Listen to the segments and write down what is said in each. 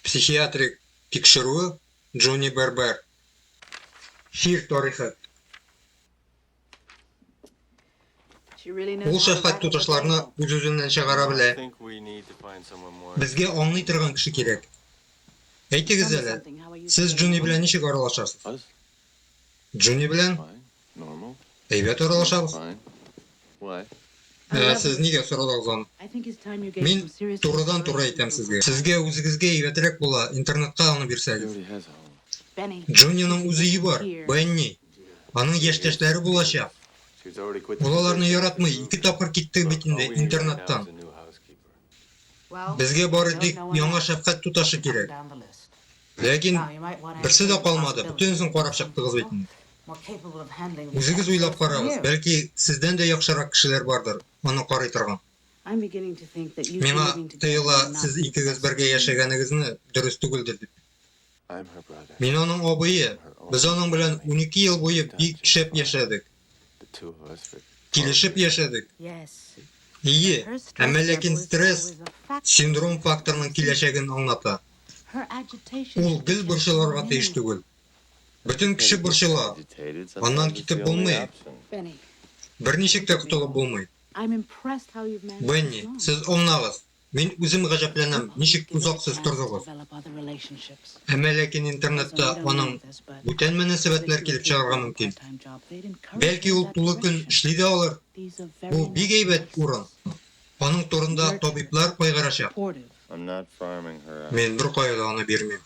Психиатрик тикшерү Джони Бербер. Чир тарихы. Ул шәфкать туташларны үз-үзеннән чыгара белә. Безгә аңлый торган кеше кирәк. Әйтегез әле, сез Джони белән ничек аралашасыз? Джуни белән әйбәт аралашабыз. Ә сез нигә сорадыгыз аны? Мин турыдан-туры әйтәм сезгә. Сезгә үзегезгә әйбәтрәк була, интернетка аны бирсәгез. Джуниның үз өе бар, Бенни. Аның яшьтәшләре булачак. Ул аларны яратмый, ике тапкыр китте бит инде интернеттан. Безгә бары тик яңа шәфкать туташы кирәк. Ләкин берсе дә калмады, бөтенесен карап чыктыгыз бит инде. Үзегез уйлап карагыз, бәлки, сездән дә яхшырак кешеләр бардыр, аны карый торган. Миңа тоела, сез икегез бергә яшәгәнегезне дөрес түгелдер дип. Мин аның абые, без аның белән унике ел буе бик шәп яшәдек. Килешеп яшәдек. Ие, әмма ләкин стресс, синдром факторның киләчәген аңлата. Ул гел борчылырга тиеш түгел. Бөтен кеше борчыла, аннан китеп булмый. Берничек тә котылып булмый. Бенни, сез аңлагыз. Мин үзем гаҗәпләнәм, ничек озак сез тордыгыз. Әмма ләкин интернетта аның бүтән мөнәсәбәтләр килеп чыгарга мөмкин. Бәлки ул тулы көн эшли дә алыр? Бу бик әйбәт урын. Аның турында табиблар кайгырачак. Мин беркая да аны бирмим.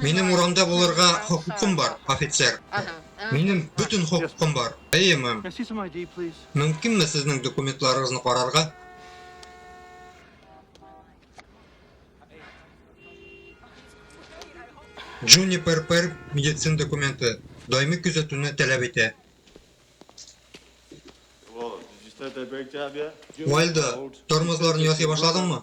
Минем урамда булырга хокукым бар, офицер. Минем бөтен хокукым бар. Әйе, мэм. Мөмкинме сезнең документларыгызны карарга? Джунипер Пер медицин документы даими күзәтүне таләп итә. Уайльда, тормозларны ясый башладыңмы?